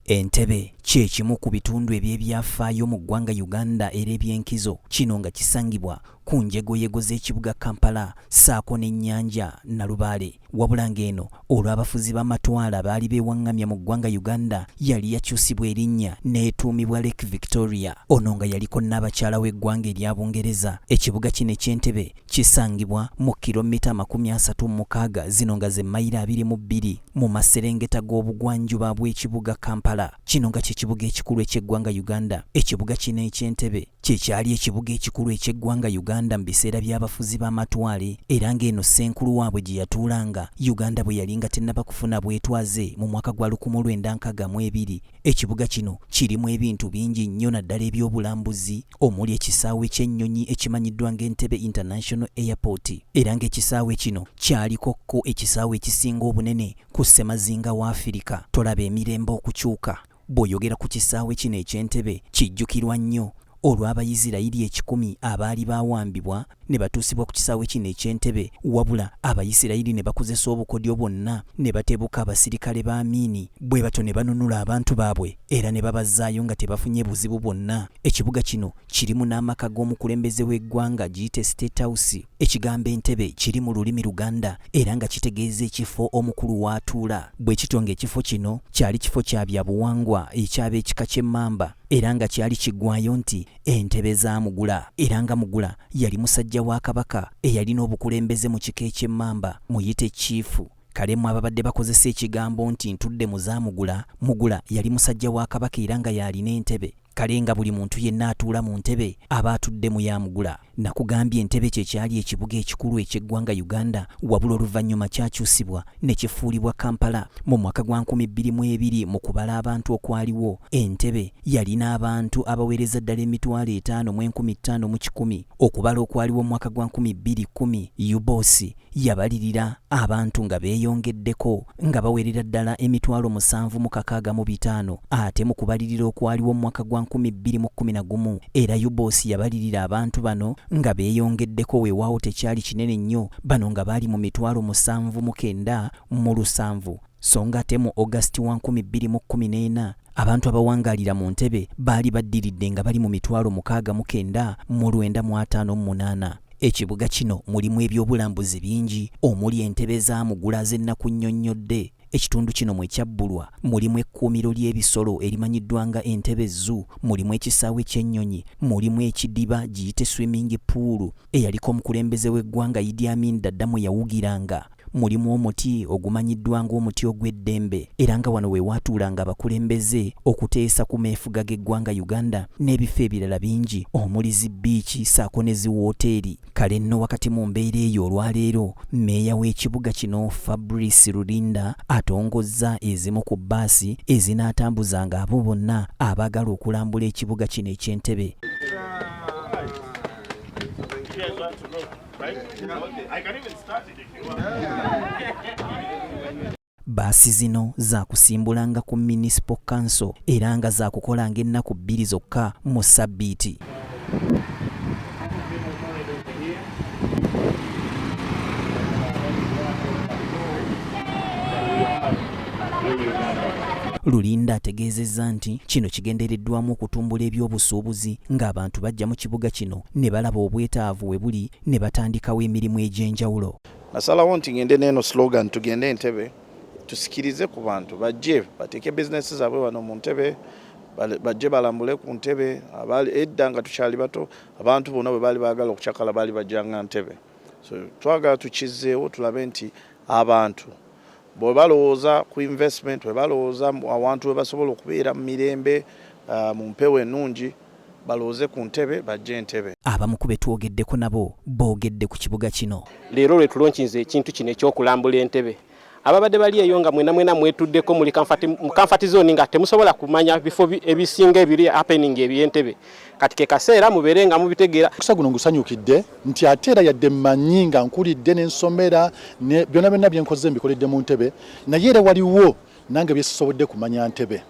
Entebbe kye kimu ku bitundu eby'ebyafaayo mu ggwanga Uganda era eby'enkizo, kino nga kisangibwa ku njegoyego z'ekibuga Kampala ssaako n'ennyanja Nalubaale, wabula ng'eno olw'abafuzi b'amatwala baali beewaŋŋamya mu ggwanga Uganda yali yakyusibwa erinnya n'etuumibwa Lake Victoria. Ono nga yaliko Nnaabakyala w'eggwanga erya Bungereza. Ekibuga kino eky'Entebbe Kisangibwa mu kiromita amakumi asatu mu mukaaga zino nga ze mayiro abiri mu bbiri mu maserengeta g'obugwanjuba bw'ekibuga Kampala. Kino nga kye kibuga ekikulu eky'eggwanga Uganda. Ekibuga kino eky'Entebbe kye kyali ekibuga ekikulu eky'eggwanga Uganda mu biseera by'abafuzi b'amatwale era ng'eno ssenkulu waabwe gye yatuulanga Uganda bwe yali nga tennaba kufuna bwetwaze mu mwaka gwa lukumu lwenda nkaaga mu ebiri. Ekibuga kino kirimu ebintu bingi nnyo naddala eby'obulambuzi, omuli ekisaawe ky'ennyonyi ekimanyiddwa ng'Entebbe International Airport era ng'ekisaawe kino kyaliko ko ekisaawe ekisinga obunene ku ssemazinga wa Afirika. Tolaba emirembe okukyuka? Bw'oyogera ku kisaawe kino eky'Entebbe kijjukirwa nnyo olw'Abayisirayiri ekikumi abaali baawambibwa ne batuusibwa ku kisaawe kino eky'entebe wabula abayisirayiri ne bakozesa obukodyo bwonna ne batebuka abasirikale ba amiini bwe batyo ne banunula abantu baabwe era ne babazzaayo nga tebafunye buzibu bwonna ekibuga kino kirimu n'amaka g'omukulembeze w'eggwanga giyite state house ekigambo entebe kiri mu lulimi luganda era nga kitegeeza ekifo omukulu w'atuula bwe kityo ng'ekifo kino kyali kifo kya byabuwangwa eky'ab'ekika ky'emmamba era nga kyali kiggwayo nti Entebe za Mugula era nga Mugula yali musajja wa Kabaka eyalina obukulembeze mu kika eky'Emmamba, muyite Cciifu. Kale mmwe ababadde bakozesa ekigambo nti ntudde mu za Mugula, Mugula yali musajja wa Kabaka era nga y'alina entebe. Kale nga buli muntu yenna atuula mu ntebe aba atudde mu ya Mugula. Nakugambye Entebe kye kyali ekibuga ekikulu eky'eggwanga Uganda wabula oluvannyuma kyakyusibwa ne kifuulibwa Kampala mu mwaka gwa nkumi bbiri mu ebiri mu kubala abantu okwaliwo. Entebe yalina abantu abaweereza ddala emitwalo etaano mu enkumi ttaano mu kikumi okubala okwaliwo mu mwaka gwa nkumi bbiri kkumi. UBOS yabalirira abantu nga beeyongeddeko nga bawerera ddala emitwalo musanvu mu kakaaga mu bitaano ate mu kubalirira okwaliwo mu mwaka gwa nkumi bbiri mu kkumi na gumu era UBOS yabalirira abantu bano nga beeyongeddeko weewaawo tekyali kinene nnyo bano nga baali mu mitwalo musanvu mu kenda mu lusanvu so nga ate mu August wa nkumi bbiri mu kkumi n'ena abantu abawangaalira mu ntebe baali baddiridde nga bali mu mitwalo mukaaga mu kenda mu lwenda mu ataano mu munaana Ekibuga kino mulimu ebyobulambuzi bingi omuli entebe z'amugula ze nnakunnyonnyodde. Ekitundu kino mwe kyabbulwa mulimu ekkuumiro ly'ebisolo erimanyiddwa nga Entebbe Zoo, mulimu ekisaawe ky'ennyonyi, mulimu ekidiba giyite swimming pool eyaliko omukulembeze w'eggwanga Idi Amin Dada mwe yawugiranga. mulimu omuti ogumanyiddwa ng'omuti ogw'eddembe era nga wano we waatuulanga abakulembeze okuteesa ku meefuga g'eggwanga Uganda n'ebifo ebirala bingi omuli zi bbiici ssaako ne zi wooteeri. Kale nno wakati mu mbeera eyo olwaleero Meeya w'ekibuga kino Fabrice Rulinda atongozza ezimu ku bbaasi ezinaatambuzanga abo bonna abaagala okulambula ekibuga kino eky'e Ntebe. Bbaasi zino zaakusimbulanga ku Municipal Council era nga zaakukolanga ennaku bbiri zokka mu ssabbiiti. Lulinda ategeezezza nti kino kigendereddwamu okutumbula ebyobusuubuzi ng'abantu bajja mu kibuga kino ne balaba obwetaavu we buli ne batandikawo emirimu egy'enjawulo. Nasalawo nti ngende n'eno slogan tugende Entebbe tusikirize ku bantu bajje bateeke bizinesi zaabwe wano mu Ntebbe bajje balambule ku Ntebbe abaali edda nga tukyali bato abantu bonna bwe baali baagala okucakala baali bajjanga Ntebbe so twagala tukizzeewo tulabe nti abantu Bwe balowooza ku investment, bwe balowooza awantu we basobola okubeera mu mirembe, ah, mu mpewo ennungi, balowooze ku ntebe, bajje entebe. Abamu ku be twogeddeko nabo boogedde ku kibuga kino. Leero lwe tulonkinze ekintu kino eky'okulambula entebe. Ababadde bali eyo nga mwena mwena mwetuddeko muli kamfati, mu kamfati zooni nga temusobola kumanya bifo ebisinga ebiri happening eby'entebe. kati ke kaseera mubeere nga mubitegeera. Omukisa guno ngusanyukidde nti ate era yadde mmanyi nga nkulidde ne nsomera ne byonna byonna bye nkoze mbikoledde mu ntebe naye era waliwo nange bye sisobodde kumanya ntebe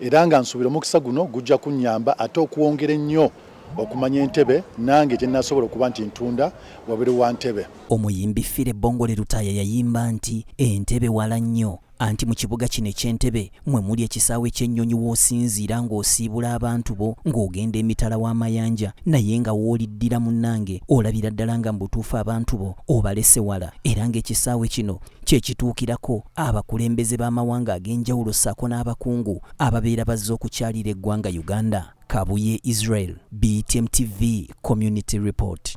era nga nsuubira omukisa guno gujja kunnyamba ate okwongera ennyo okumanya entebe nange gye nasobola okuba nti ntunda wabiri wa ntebe. Omuyimbi Fire Bongole Lutaaya yayimba nti, Entebe wala nnyo. Anti mu kibuga kino eky'e Ntebe mwe muli ekisaawe ky'ennyonyi w'osinziira ng'osiibula abantu bo ng'ogenda emitala w'amayanja naye nga w'oliddira munnange olabira ddala nga mu butuufu abantu bo obalese wala era ng'ekisaawe kino kye kituukirako abakulembeze b'amawanga ag'enjawulo ssaako n'abakungu ababeera bazze okukyalira eggwanga Uganda. Kabuye Israel, BTM TV, Community Report.